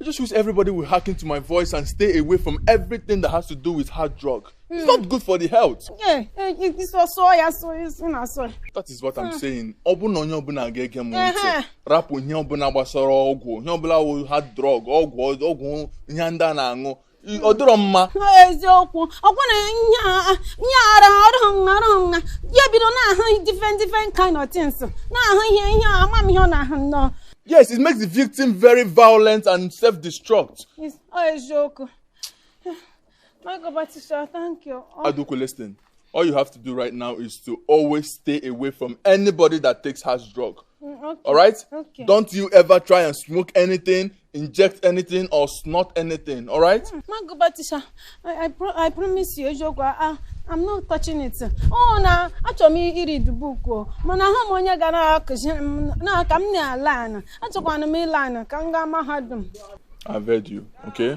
I just wish everybody will hearken to my voice and stay away from everything that has to do with hard drug. Mm. It's not hmm. good for the health. Yeah, eh, eh, it's for soy, soy, soy, soy. That is what I'm hmm. saying. Ọ bụ na onye ọbụla ga-ege m ntị. Rapụ ihe ọbụla gbasara ọgwụ, ihe ọbụla wụ hard drug, ọgwụ, ọgwụ ihe ndị a na-aṅụ. ọ dịrọ mma eziokwu ọkwa na ihe ara ọrụ nha ọrụ nha ya bido na-ahụ different different kind of things na-ahụ ihe ihe ama m ihe ọ na-ahụ nnọọ yes it makes the victim very violent and self-destruct eziokwu my God, but Tisha, thank you. Oh. Aduku, listen. All you have to do right now is to always stay away from anybody that takes hard drug. Mm, okay. All right? Okay. Don't you ever try and smoke anything, inject anything, or snort anything. All right? Mm, My God, but Tisha. I, I, pro I promise you, eziokwu, I, I'm not touching it. Oh, na achọrọ m ị-read book o. Mana ha m onye ga na-akụziri m na ka m na-a-learn. Achọkwana m ị-learn ka m gaa mahadum. I've heard you, okay?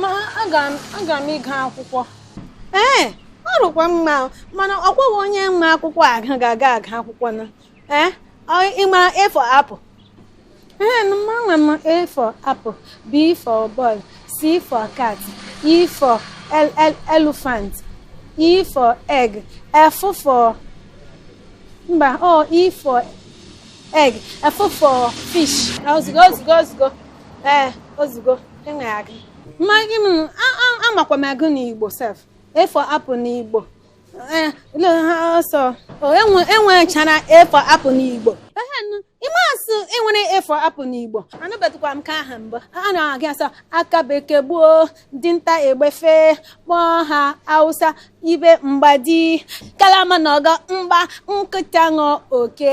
ma aga m ịga akwụkwọ ee ọ dịkwa mma mana ọ kwaghị onye ma akwụkwọ aga ga-aga aga akwụkwọ na ee ị ma a for apple ee amakwa m a for apple b for ball c for cat e for elephant e for egg f for mba o e for egg f for fish ozugbo ozugbo ozugbo ee ozugbo enweghị agụ mmaghị m amakwa m agụ n'igbo sef a for apple n'igbo ee ha so e nwechara a for apple n'igbo ime asụ e nwere a for apple n'igbo anụbetụkwa m ka aha mbụ a na-agụ asị aka bekee gbuo dinta egbe fe gọọ gha hausa ibe ịgba ji kalama lụọ ọgụ mgba nkịta ṅụọ oke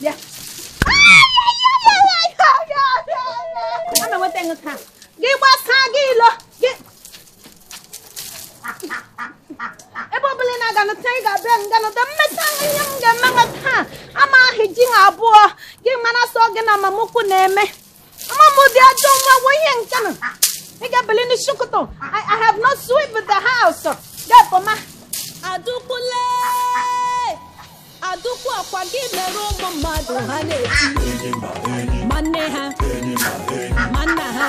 bịa ana nweta gị ka gị gbasaa gị ilo gị ebe ọbụla ị na-aga nụta ị ga-abịa nga nụta mmeta ihe m ga-eme gị taa ama ahụ ji ha abụọ gị mara sọ gị na mama ukwu na-eme Ama m ụdị ajọ nwa wụ ihe nke a ị ga-ebili n'isi ụtụtụ I I have not sweep the house gapụ ama Aduku le Aduku ọkwa gị mere ụmụ mmadụ ha na-eti ma nne ha ma nna ha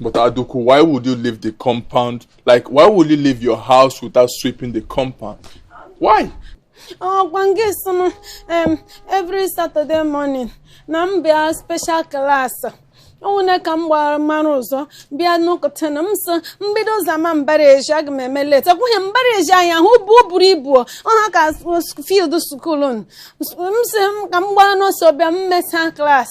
But Aduku, why would you leave the compound? Like, why would you leave your house without sweeping the compound? Why? Oh, ọkwa gị sị m, um, every Saturday morning, na m bịa special class. ọ wụnụ ka m gbara mara ụzọ bịa n'ụtụtụ a na m sị m bido zama mbara ezi aga m eme late kwụnye mbara ezi anyị ahụ bụ o buru ibu ọ ha ka field school m sị ka m gbara n'ọsọ bịa m mesa class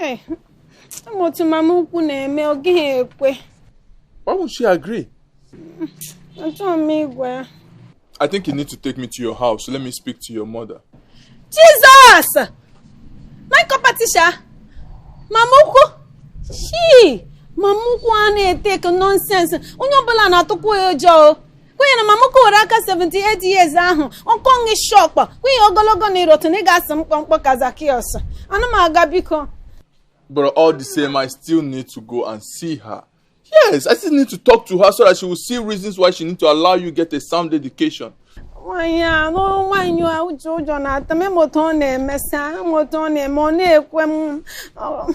Ee, ama m otu mama ukwu na-eme ọ gaghị ekwe Why won't she agree? achọghị m ịgwa ya I think you need to take me to your house. Let me speak to your mother. Jizọs! My competition! Mama ukwu! Shii! Mama ukwu a na-etake nonsense onye ọbụla na-atụkwa ya ụjọ o. kwenye na mama ukwu were ka 78 years ahụ ọkọ ngị shọkpa kwenye ogologo na irotu na ị ga-asị mkpụmkpụ ka Zacchaeus ana m aga biko But all the same, I still need to go and see her. Yes, I still need to talk to her so that she will see reasons why she need to allow you get a sound education. nwaanyị a nụrụ nwaanyị a ụjọ ụjọ na-atụ m ị ma otu ọ na-emesa ị ma otu ọ na-eme ọ na-ekwe m ọ-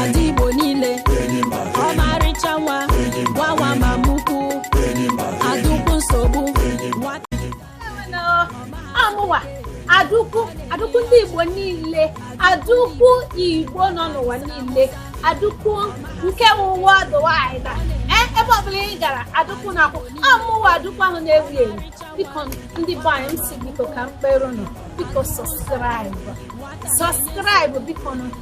Ada Igbo niile ọmarịcha nwa gwawa mama ukwu adukwu nsogbu amụwa adukwu adukwu ndị Igbo niile adukwu Igbo nọ n'ụwa niile adukwu nke ụwa dụwa anyị na eh, ebe ọbụla ị gara adukwu na akwụ amụwa adukwu ahụ na-ewu ewu biko ndị be anyị m sị biko ka m kpere ụnụ biko subscribe subscribe bikonụ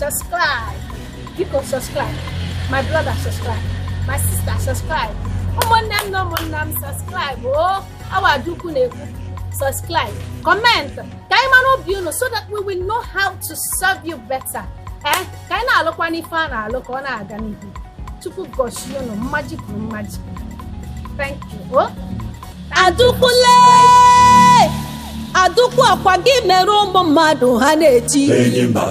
subscribe biko subscribe my brother subscribe my sister subscribe ụmụnne m na ụmụnna m subscribe ọ wụ adukwu na-ekwu subscribe comment ka anyị mara obi unu so that we will know how to serve you better ee ka anyị na-alụkwanụ ife a na-alụ ka ọ na-aga n'ihu chukwu gọzie unu mmaji kwuru mmaji thank you o adukwu le adukwu akwa gị mere ụmụ mmadụ ha na-eti